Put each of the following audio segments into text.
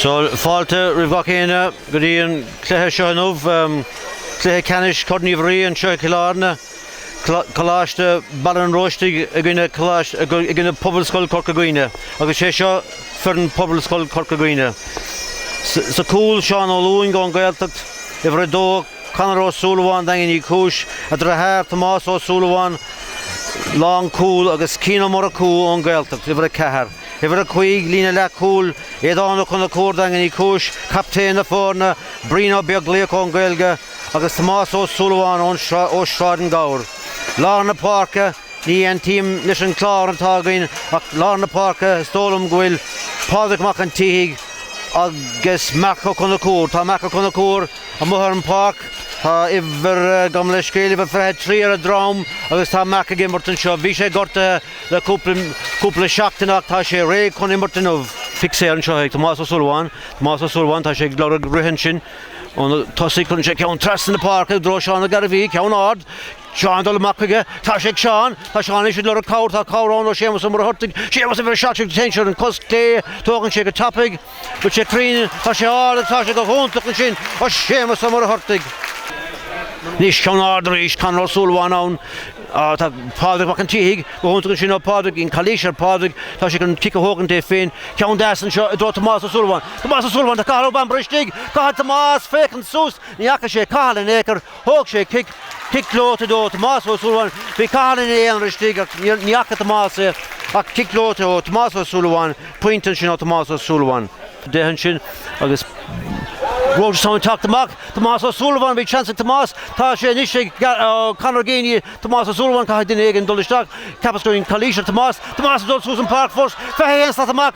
So fáilte roimh gach éinne go dtí an cluiche seo inniu. Cluiche ceannais Corn Uí Bhraoi anseo i gCill Airne. Coláiste Bhaile an Róistigh i gcoinne i gcoinne Pobalscoil Corca Dhuibhne, agus sé seo foireann Pobalscoil Corca Dhuibhne. Sa cúl Seán Ó Lúing ón Gaeltacht, uimhir a dó Conor Ó Súilleabháin, Daingean Uí Chúis, a dheartháir Tomás Ó Súilleabháin, lánchúl, agus Cian Ó Murchú ón Gaeltacht, Uimhir 4, Uimhir 5, líne leathchúil, Aodhán Ó Conchúir, Daingean Uí Chúis, captaen na foirne, Brian Ó Beaglaoich ón Gaeilge, agus Tomás Ó Súilleabháin ó Sráid na nGabhar. Lár na páirce, Ní aontaím leis an clár atá againn ach lár na páirce is dóigh liom go bhfuil Pádraig Mac an tSíthigh agus Marc Ó Conchúir. Tá Marc Ó Conchúir. Amuigh ar an pháirc, tá uimhir agam le scéal, a 23 ar a dhrom agus tá Marc ag imirt anseo. Bhí sé gortaithe le cúpla seachtain ach tá sé réidh chun imirt inniu. Feicfear anseo ag Tomás Ó Súilleabháin. Tomás Ó Súilleabháin, tá sé ag lorg rith ansin ó na tosaigh, cuireann sé ceann trasna na páirce i dtreo Seán Ó Gairbhí, ceann ard, Seán ag dul amach chuige, tá sé ag Seán, tá Seán anois ag lorg cabhair, tá cabhair ann ó Séamus Ó Muircheartaigh, Séamus uimhir 17 ansin ar, an cos clé, tógann sé go tapaidh, an bhfuil sé cruinn, Tá sé ard agus tá sé go hiontach ansin, ó Séamus Ó Muircheartaigh. Anois, ceann ard arís, Conor Ó Súilleabháin ann. tá Pádraig Mac an tSíthigh go hiontach ansin, ó Pádraigín, calaois ar Phádraig, tá sé chun cic a thógaint é féin. Ceann deas anseo i dtreo Tomás Ó Súilleabháin. Tomás Ó Súilleabháin, tá Cathal Ó Bambaire istigh! Caithfidh Tomás féachaint suas, ní fhaca sé Cathal in aon chor. Thóg sé cic, cic gleoite ó Tomás Ó Súilleabháin. Bhí Cathal ina aonar istigh ach ní fhaca Tomás é ach cic gleoite ó Tomás Ó Súilleabháin, pointe ansin ó Tomás Ó Súilleabháin. Deich ansin agus Rochestown ag teacht amach, Tomás Ó Súilleabháin bhí chance ag Tomás, tá sé anois ag Conor Geaney, Tomás Ó Súilleabháin caithfidh duine éigin dul isteach, ceapas go raibh calaois ar Tomás, Tomás dul suas an pháirc fós, 21 slat amach,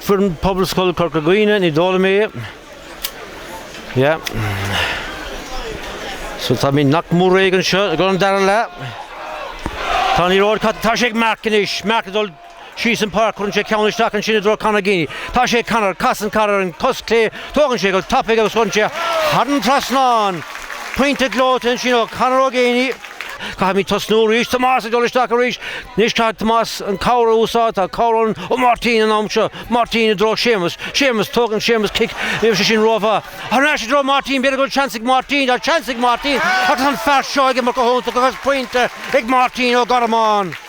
Foireann Pobalscoil Chorca Dhuibhne, ní dóigh liom é. Yeah. So táimid nach mór réidh anseo don dara leath. Tá an liathróid caite, tá sé ag Mark anois, Mark ag dul síos an páirc, cuireann sé ceann isteach ansin i dtreo Conor Geaney. Tá sé ag Conor, casann Conor ar an cos clé, tógann sé go tapaidh agus cuireann sé thar an trasnán. Pointe gleoite ansin ó Conor Ó Geaney. Caithfimid tosnú arís Tomás ag dul isteach arís anois caithfidh Tomás an cabhair a úsáid tá cabhair ann ó Máirtín an am seo Máirtín i dtreo Séamus Séamus tógann Séamus cic níl sé sin rómhaith thar n-ais i dtreo Máirtín b'fhéidir go bhfuil seans ag Máirtín tá seans ag Máirtín agus an fear seo ag imirt go hiontach agus pointe ag Máirtín Ó Gormáin.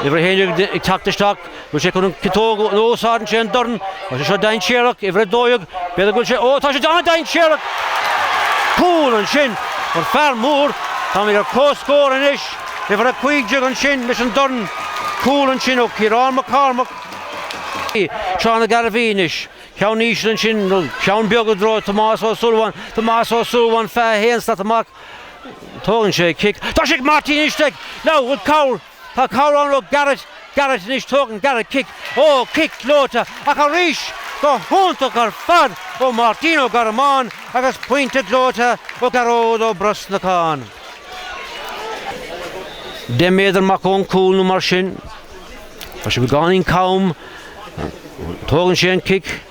Uimhir a haon déag ag teacht isteach, bhfuil sé ag chun ciotóg a úsáid ann sé an dorn, tá sé seo dainséarach, uimhir a dó dhéag, b'fhéidir go bhfuil sé, ó tá sé déanamh dainséarach! Cúl ansin ón fear mór, táimid ar comhscór anois, uimhir a cúig déag ansin leis an dorn, cúl ansin ó Ciarán Mac Cormaic, Seán Ó Gairbhí anois, ceann íseal ansin, ceann beag i dtreo Tomás Ó Súilleabháin, Tomás Ó Súilleabháin 21 slat amach, Tógann sé cic. Tá sé ag Martin anois ag. Now bhfuil cabhair. Tá cabhair ann, ó Garrett. Garrett anois tógann Garrett cic. Ó cic gleoite ach arís go hiontach ar fad ó Martin Ó Gormáin agus pointe gleoite ó Gearóid Ó Brosnacháin. Deich méadar amach ón cúl nó mar sin. Tá sé beagáinín cam. Tógann sé an cic.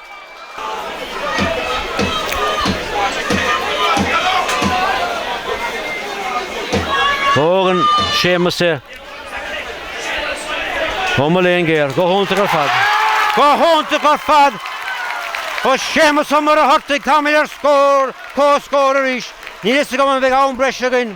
Tógann Séamus é. Ó mo léan géar, go hiontach ar fad! Go hiontach ar fad! Ó Séamus Ó Muircheartaigh táimid ar scór, comhscór arís, níl fhios agam an bheidh am breise againn.